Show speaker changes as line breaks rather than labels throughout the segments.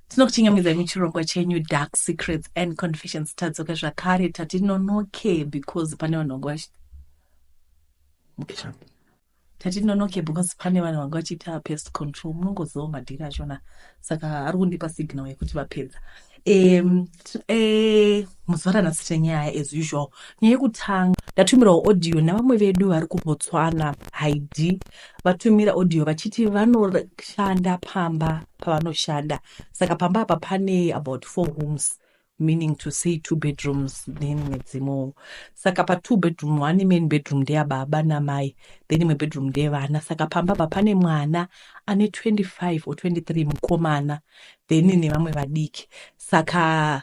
tinokuchingamidza muchirongwa chenyu dark secrets and confessions tadzoka zvakare tati nonoke because pane vanhu vanga vachi tati nonoke because pane vanhu vanga vachiita pest control munongoziva madhiri achona saka ari kundipa signal yekuti vapedza um, eh, muzuva ranhasi tenyaya as usual nyaya yekutanga ndatumirawo audio nevamwe vedu vari kubotswana haidi vatumira audio vachiti vanoshanda pamba pavanoshanda saka pamba apa pane about four rooms meaning to say two bedrooms then imwe dzimowo saka patwo bedroom one main bedroom ndeyababa namai then imwe bedroom ndeyevana saka pamba apa pane mwana ane 25 or 23 mukomana then nevamwe vadiki saka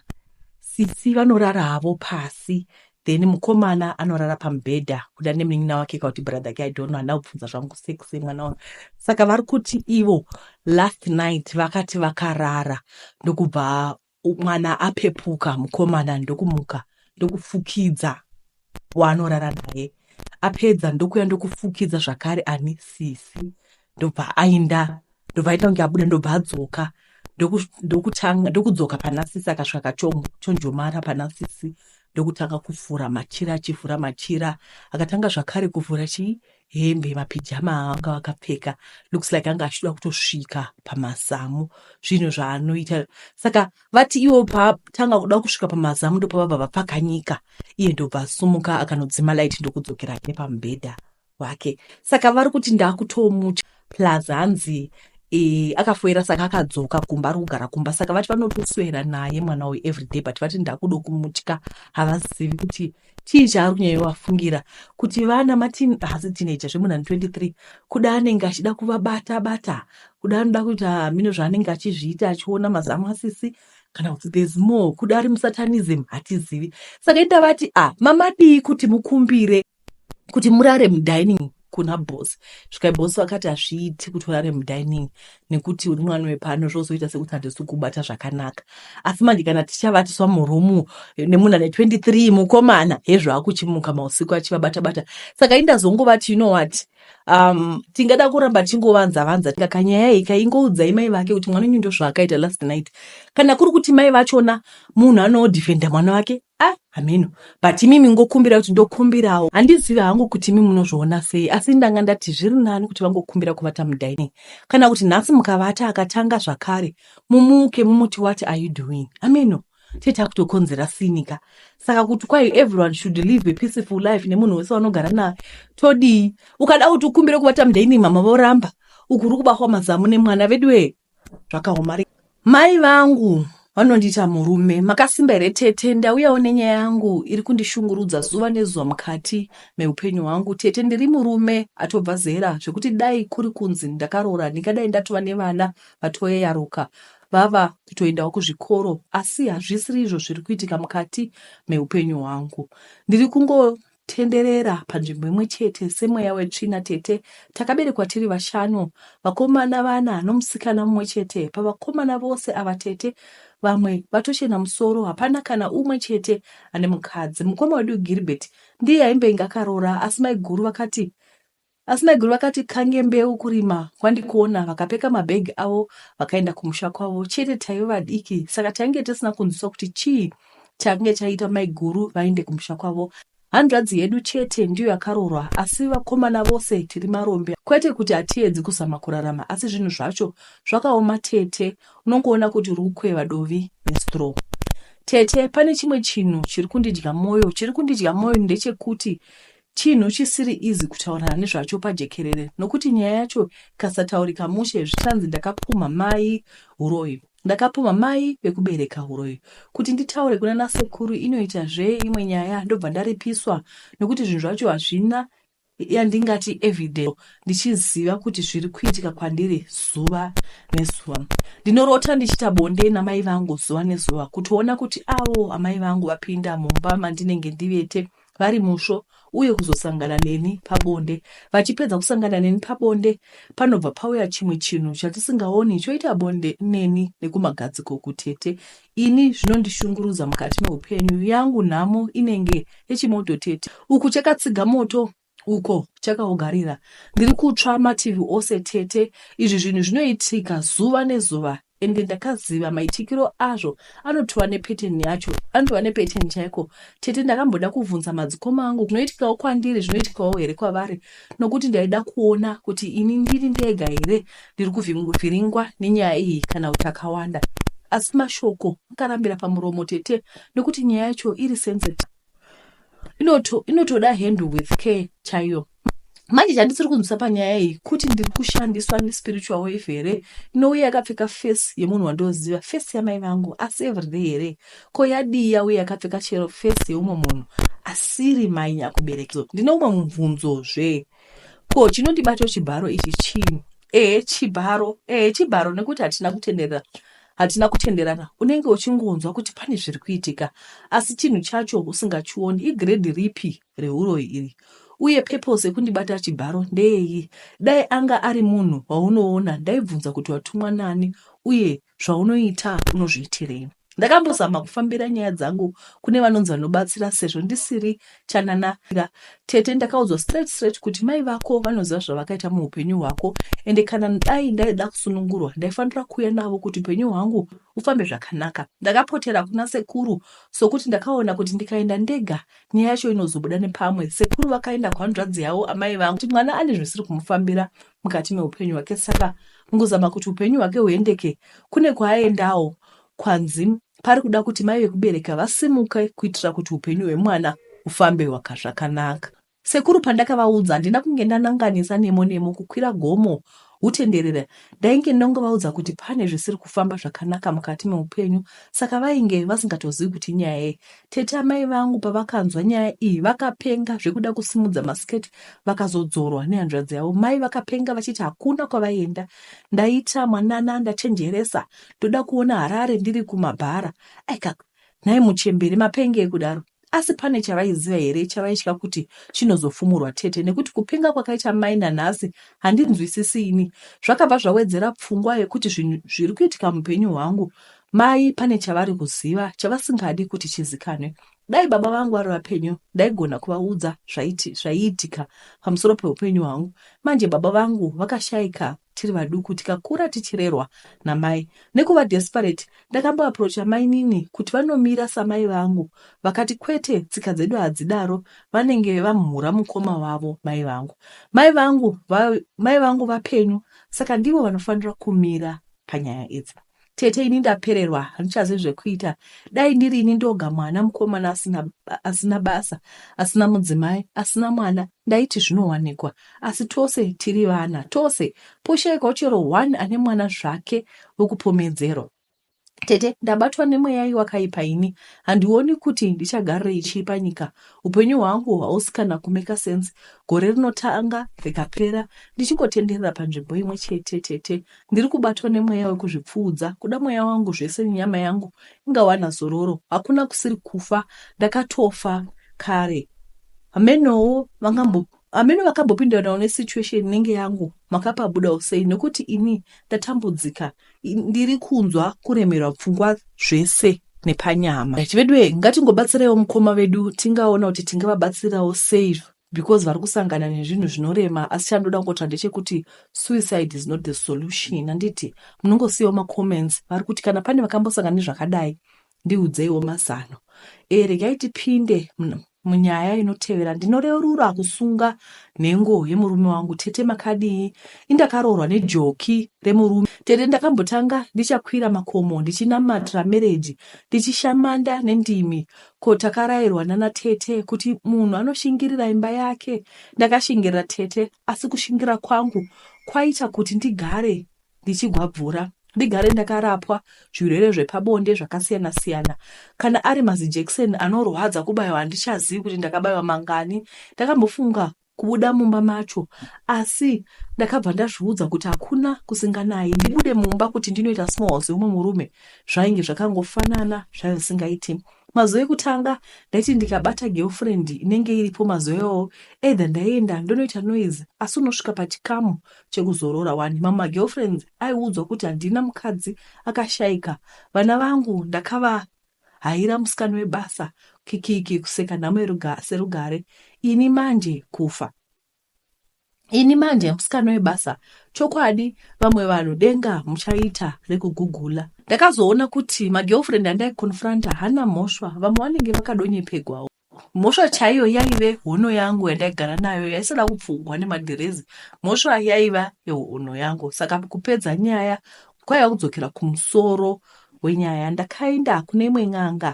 sisi vanorara havo pasi then mukomana anorara pamubhedha kuda nemunin'ina wake ka kuti brother ke idonno handina kubvunza zvangu sex mwana wangu saka vari kuti ivo last night vakati vakarara ndokubva mwana apepuka mukomana ndokumuka ndokufukidza waanorara naye apedza ndokuya ndokufukidza zvakare ani sisi ndobva ainda ndobva aita kunge abuda ndobva adzoka ndokutanga ndokudzoka pana sisi akasvika kachonjomara pana sisi ndokutanga kuvhura machira achivhura machira akatanga zvakare kuvhura chii hembe mapijama aanga vakapfeka looks like anga achitoda kutosvika pamazamu zvinhu zvaanoita saka vati ivo patanga kuda kusvika pamazamu ndopavabva vapfakanyika iye ndobva asumuka akanodzima light ndokudzokera nepamubhedha hwake saka vari kuti ndakutomucha plus hanzi e, akafoira saka akadzoka kumba ari kugara kumba saka vati vanotoswera naye mwana uyu everyday but vati ndakudo kumutya havazivi kuti chii chaari kunyanya vafungira kuti vana matin hasi tineja zvemunhu ani 23 kuda anenge achida kuvabata bata kuda anoda kuti hamino ah, zvaanenge achizviita achiona mazamu asisi kana kuti there's more kuda ari musatanism hatizivi saka ita vati a ah, mamadii kuti mukumbire kuti murare mudining kuna boss svikai boss vakati hazviiti kuti urare mudining nekuti uri mwana wepano zvozoita sekuti handisi kubata zvakanaka asi manje kana tichavatiswa murumu nemunhu ane 23 mukomana hezvo akuchimuka mausiku achivabata bata saka indazongovati you know what um, tingada kuramba tichingovanza vanza kanyaya iyi kaingoudzai mai vake kuti mwana wenyu ndozvaakaita last night kana kuri kuti mai vachona munhu anodefenda mwana wake Ah, hameno but imimi ngokumbira kuti ndokumbirawo handizivi hangu kuti imi munozviona sei asi ndanga ndati zviri nani kuti vangokumbira kuvata mudining kana kuti nhasi mukavata akatanga zvakare mumuke mumuti what are you doing hameno tee takutokonzera sinika saka kuti kwai everyone should live a peaceful life nemunhu wese wanogara naye todii ukada kuti ukumbire kuvata mudining mama voramba uku uri kubahwa mazamu nemwana veduwee zvakaoma mai vangu vanondiita murume makasimba here tete ndauyawo nenyaya yangu iri kundishungurudza zuva nezuva mukati meupenyu hwangu tete ndiri murume atobva zera zvekuti dai kuri kunzi ndakaroora ndingadai ndatova nevana vatoyeyaruka vava kutoendawo kuzvikoro asi hazvisiri izvo zviri kuitika mukati meupenyu hwangu ndiri kungo Tenderera panzvimbo imwe chete semweya wetsvina tete takaberekwa tiri vashanu vakomana vana nomusikana mumwe chete pavakomana vose ava tete vamwe vatochena musoro hapana kana umwe chete ane mukadzi mukoma wedu Gilbert ndiye aimbenga akaroora asi maiguru vakati Asi maiguru vakati kange mbeu kurima kwandikuona vakapeka mabhegi avo vakaenda kumusha kwavo chete taive vadiki saka tainge tisina kunzwiswa kuti chii chakange chaita maiguru vaende kumusha kwavo hanzvadzi yedu chete ndiyo yakaroorwa asi vakomana vose tiri marombe kwete kuti hatiedzi kuzama kurarama asi zvinhu zvacho zvakaoma tete unongoona kuti uri kukweva dovi nestraw tete pane chimwe chinhu chiri kundidya mwoyo chiri kundidya mwoyo ndechekuti Chinhu chisiri easy kutaurana nezvacho pajekerere nokuti nyaya yacho ikasataurika mushe zvichanzi ndakapumha mai huroyi ndakapumha mai vekubereka huroyi kuti nditaure kuna nasekuru inoita zve imwe nyaya ndobva ndaripiswa nokuti zvinhu zvacho hazvina yandingati evidence ndichiziva kuti zviri kuitika kwandiri zuva nezuva ndinorota ndichiita bonde namai vangu zuva nezuva kutoona kuti avo amai vangu vapinda mumba mandinenge ndivete vari musvo uye kuzosangana neni pabonde. Vachipedza kusangana neni pabonde, panobva pauya chimwe chinhu chatisingaoni choita bonde neni nekumagadziko kutete. Ini zvinondishungurudza mukati meupenyu, yangu nhamo inenge yechimoto tete. Uku chakatsiga moto uko chakaugarira. Ndiri kutsva mativi ose tete. Izvi zvinhu zvinoitika zuva nezuva ende ndakaziva maitikiro azvo anotova nepeteni yacho anotova nepeteni chaiko tete ndakamboda kuvhunza madzikoma angu zvinoitikawo kwandiri zvinoitikawo here kwavari nokuti ndaida kuona kuti ini ndiri ndega here ndiri kuvhiringwa nenyaya iyi kana kuti akawanda asi mashoko akarambira pamuromo tete nokuti nyaya yacho iri sensiti inoto inotoda handle with care chaiyo manje chandisiri kunzwisa panyaya iyi kuti ndiri kushandiswa nespiritual wave here inouye yakapfeka face yemunhu wandoziva face yamai vangu asi everyday here ko yadii yauye yakapfeka chero face yeumwe munhu asiri mai nyakubereki ndine umwe mubvunzozve ko chinondibato chibharo ichi chii ehe chibharo ehe chibharo nekuti hatina kutenderera Hatina kutenderana, unenge uchingonzwa kuti pane zviri kuitika asi chinhu chacho usingachioni. Igrade ripi rehuroyi iri? Uye purpose yekundibata chibharo ndeyei? Dai anga ari munhu waunoona ndaibvunza kuti watumwa nani uye zvaunoita unozviitirei. Ndakambozama kufambira nyaya dzangu kune vanonzi vanobatsira sezvo ndisiri chanana nga tete ndakaudzwa straight straight kuti mai vako vanoziva zvavakaita muupenyu hwako ende kana dai ndaida kusunungurwa ndaifanira kuuya navo kuti upenyu hwangu ufambe zvakanaka ndakapotera kuna sekuru sokuti ndakaona kuti ndikaenda ndega nyaya yacho inozobuda nepamwe sekuru vakaenda kuhanzvadzi yavo amai vangu kuti mwana ane zvisiri kumufambira mukati meupenyu hwake saka mukuzama kuti upenyu hwake huendeke kune kwaaendawo Kwanzi pari kuda kuti mai vekubereka vasimuke kuitira kuti upenyu hwemwana hufambe wakazvakanaka. Sekuru pandakavaudza handina kunge ndananganisa nemo nemo kukwira gomo hutenderera ndainge ndongovaudza kuti pane zvisiri kufamba zvakanaka mukati meupenyu saka vainge vasingatozivi kuti inyaya yei tete amai vangu pavakanzwa nyaya iyi vakapenga zvekuda kusimudza masiketi vakazodzorwa nehanzvadzi yavo mai vakapenga vachiti hakuna kwavaienda ndaita mwanana ndachenjeresa ndoda kuona Harare ndiri kumabhara. Aika, nhai muchembere, mapengei kudaro? Asi pane chavaiziva here chavaitya kuti chinozofumurwa tete nekuti kupenga kwakaita mai nanhasi handinzwisisi ini. Zvakabva zvawedzera pfungwa yekuti zvinhu zviri kuitika mupenyu hwangu mai pane chavari kuziva chavasingadi kuti chizikanwe. Dai baba vangu vari vapenyu ndaigona kuvaudza zvaiitika pamusoro peupenyu hwangu. Manje baba vangu vakashaika tiri vaduku tikakura tichirerwa namai nekuva desperate ndakamboaproacha mainini kuti vanomira samai vangu vakati kwete tsika dzedu hadzidaro vanenge vamhura mukoma wavo mai vangu mai vangu va, mai vangu vapenyu saka ndivo vanofanira kumira panyaya idzi Tete ini ndapererwa handichazivi zvekuita dai ndiri ini ndoga mwana mukomana asina, asina basa asina mudzimai asina mwana ndaiti zvinowanikwa asi tose tiri vana tose poshaikwa chero one ane mwana zvake wekupomedzerwa tete ndabatwa nemweya iwakaipa ini handioni kuti ndichagarirei chii panyika upenyu hwangu hausi kana kumeka sense gore rinotanga rikapera ndichingotenderera panzvimbo imwe chete tete Ndiri kubatwa nemweya wekuzvipfuudza, kuda mweya wangu zvese nenyama yangu ingawana zororo. Hakuna kusiri kufa, ndakatofa kare. Hamenowo vangambo hameno vakambopindanawo nesituation inenge yangu makapabudawo sei nekuti ini ndatambudzika ndiri kunzwa kuremerwa pfungwa zvese nepanyama vedu e ngatingobatsireiwo mukoma vedu tingaona kuti tingavabatsirawo sei because vari kusangana nezvinhu zvinorema asi chandoda kungotira ndechekuti suicide is not the solution handiti munongosiyawo macomments vari kuti kana pane vakambosangana nezvakadai ndiudzeiwo mazano e eh, regai tipinde munyaya inotevera ndinoreurura kusunga nhengo yemurume wangu tete makadii indakaroorwa nejoki remurume tete ndakambotanga ndichakwira makomo ndichinamatira mereji ndichishamanda nendimi Ko takarairwa nana tete kuti munhu anoshingirira imba yake ndakashingirira tete asi kushingira kwangu kwaita kuti ndigare ndichigwabvura ndigare ndakarapwa zvirwere zvepabonde zvakasiyana siyana kana ari mazijekiseni anorwadza kubaiwa handichazivi kuti ndakabaiwa mangani ndakambofunga kubuda mumba macho asi ndakabva ndazviudza kuti hakuna kusinganayi ndibude mumba kuti ndinoita small seumwe murume zvainge zvakangofanana zvaive zvisingaiti mazuva ekutanga ndaiti ndikabata girlfriend inenge iripo mazuva iwawo either ndaienda ndonoita noise asi unosvika pachikamu chekuzorora wani mamwe magirlfriends aiudzwa kuti handina mukadzi akashaika vana vangu ndakava Haira musikana webasa kikiki kuseka nhamo yeruga, serugare ini manje kufa ini manje musikana webasa chokwadi vamwe vanhu denga muchaita rekugugula ndakazoona kuti magirlfriend andaiconfronta hana mhosva vamwe vanenge vakadonyepegwawo Mhosva chaiyo yaive hono yangu yandaigara nayo yaisada kupfugwa nemadhirezi. Mhosva yaiva yehono yangu saka kupedza nyaya kwaiva kudzokera kumusoro wenyaya. Ndakaenda kune imwe n'anga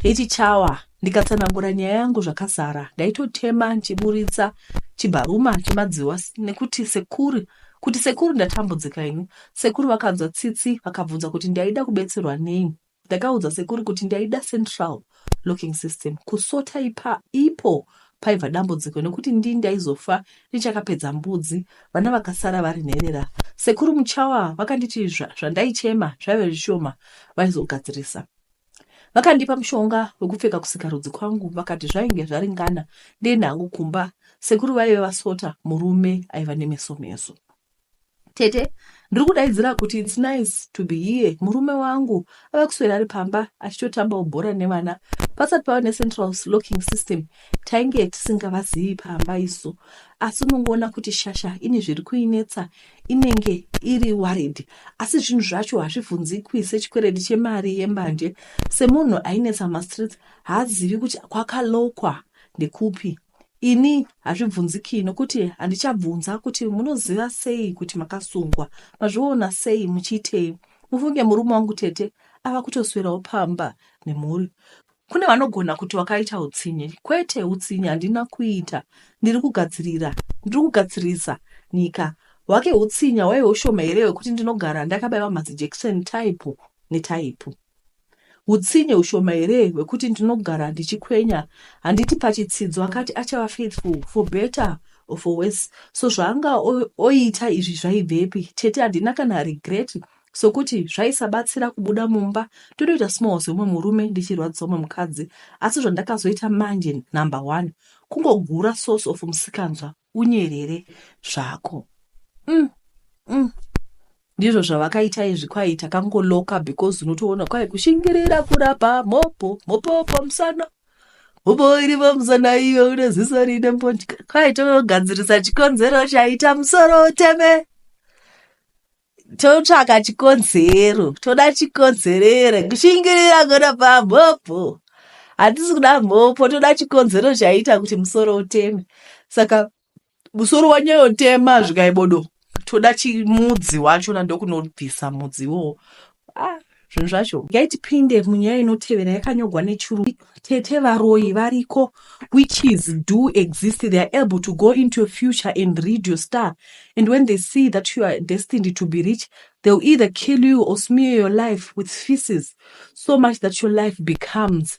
yechichawa ndikatsanangura nyaya yangu zvakazara. Ndaitotema ndichiburitsa chibharuma chemadziwa nekuti sekuru kuti sekuru ndatambudzika ini. Sekuru vakanzwa tsitsi vakabvunza kuti ndaida kubetserwa nei. Ndakaudza sekuru kuti ndaida central locking system kusota ipa ipo paibva dambudziko nekuti ndii ndaizofa ndichakapedza mbudzi vana vakasara vari nherera. Sekuru Muchawa vakanditi zvandaichema zvaive zvishoma vaizogadzirisa. Vakandipa mushonga wekupfeka kusikarudzi kwangu vakati zvainge zvaringana ndiende hangu kumba sekuru vaive vasota murume aiva nemeso meso. Tete, ndiri kudaidzira kuti it's nice to be here. Murume wangu ave kuswera ari pamba achitotambawo bhora nevana. Pasati pava necentral locking system tainge tisingavazivi pamba isu. Asi unongoona kuti shasha ine zviri kuinetsa inenge iri worried. Asi zvinhu zvacho hazvibvunzikwi sechikwereti chemari yembanje. Semunhu ainetsa mastreets haazivi kuti kwakalokwa ndekupi. Ini hazvibvunziki nokuti handichabvunza kuti munoziva sei kuti makasungwa, mazviona sei, muchiitei. Mufunge murume wangu tete ava kutoswerawo pamba nemhuri. Kune vanogona kuti wakaita utsinye. Kwete, utsinye handina kuita. Ndiri kugadzirira, ndiri kugadzirisa nyika. Hwake hutsinye hwaive hushoma here hwekuti ndinogara ndakabaiwa mazijekiseni taipu netaipu. Hutsinye hushoma here hwekuti ndinogara ndichikwenya handiti pachitsidzo akati achava faithful for better or for worse so zvaanga oita izvi zvaibvepi tete handina kana regret sokuti zvaisabatsira kubuda mumba totoita small zveumwe murume ndichirwadzisa umwe mukadzi asi zvandakazoita manje number one kungogura source of musikanzwa unyerere zvako mm, mm. ndizvo zvavakaita izvi kwai takangoloka because unotoona kwai kushingirira kurapa mhopo mhopo pamusana mhopo iri pamusana iyo une ziso rine mbonji kwai togadzirisa chikonzero chaita musoro uteme totsvaka chikonzero toda chikonzerere kushingirira kurapa mhopo hatisi kuda mhopo toda chikonzero chaita kuti musoro uteme saka musoro wanyayotema zvikaibodo toda chimudzi wacho na ndokunobvisa mudzi iwowo ah, zvinhu zvacho gai tipinde munyaya inotevera yakanyogwa nechuru tete varoyi variko witches do exist they are able to go into your future and read your star and when they see that you are destined to be rich they will either kill you or smear your life with feces so much that your life becomes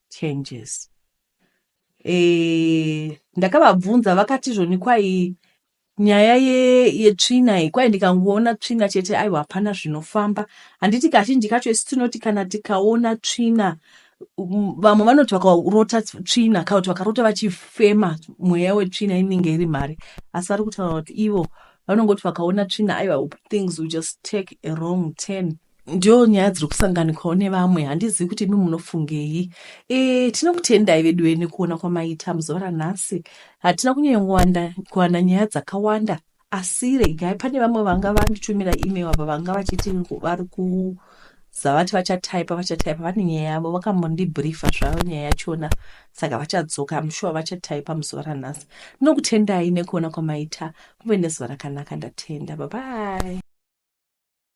changes eh, ndakavabvunza vakati zvoni kwai nyaya yetsvina ye iyi kwai ndikangoona tsvina chete aiwa hapana zvinofamba handiti kazhinji kacho isi tinoti kana tikaona tsvina vamwe vanoti vakarota tsvina kana kuti vakarota vachifema mweya wetsvina inenge iri mari asi vari kutaura kuti ivo vanongoti vakaona tsvina aiwa things will just take a wrong turn Ndiyo nyaya dziri kusanganikwawo nevamwe, handizivi kuti imi munofungei. E, tinokutendai veduwe nekuona kwamaita muzuva ranhasi. Hatina kunyanya kuwana nyaya dzakawanda, asi regai pane vamwe vanga vanditumira email ava vanga vachiti vari ku zvavati vachataipa vachataipa vane nyaya yavo vakambondibriefa zvavo nyaya yachona saka vachadzoka amushuwa vachataipa muzuva ranhasi ndinokutendai nekuona kwamaita muve nezuva rakanaka ndatenda babai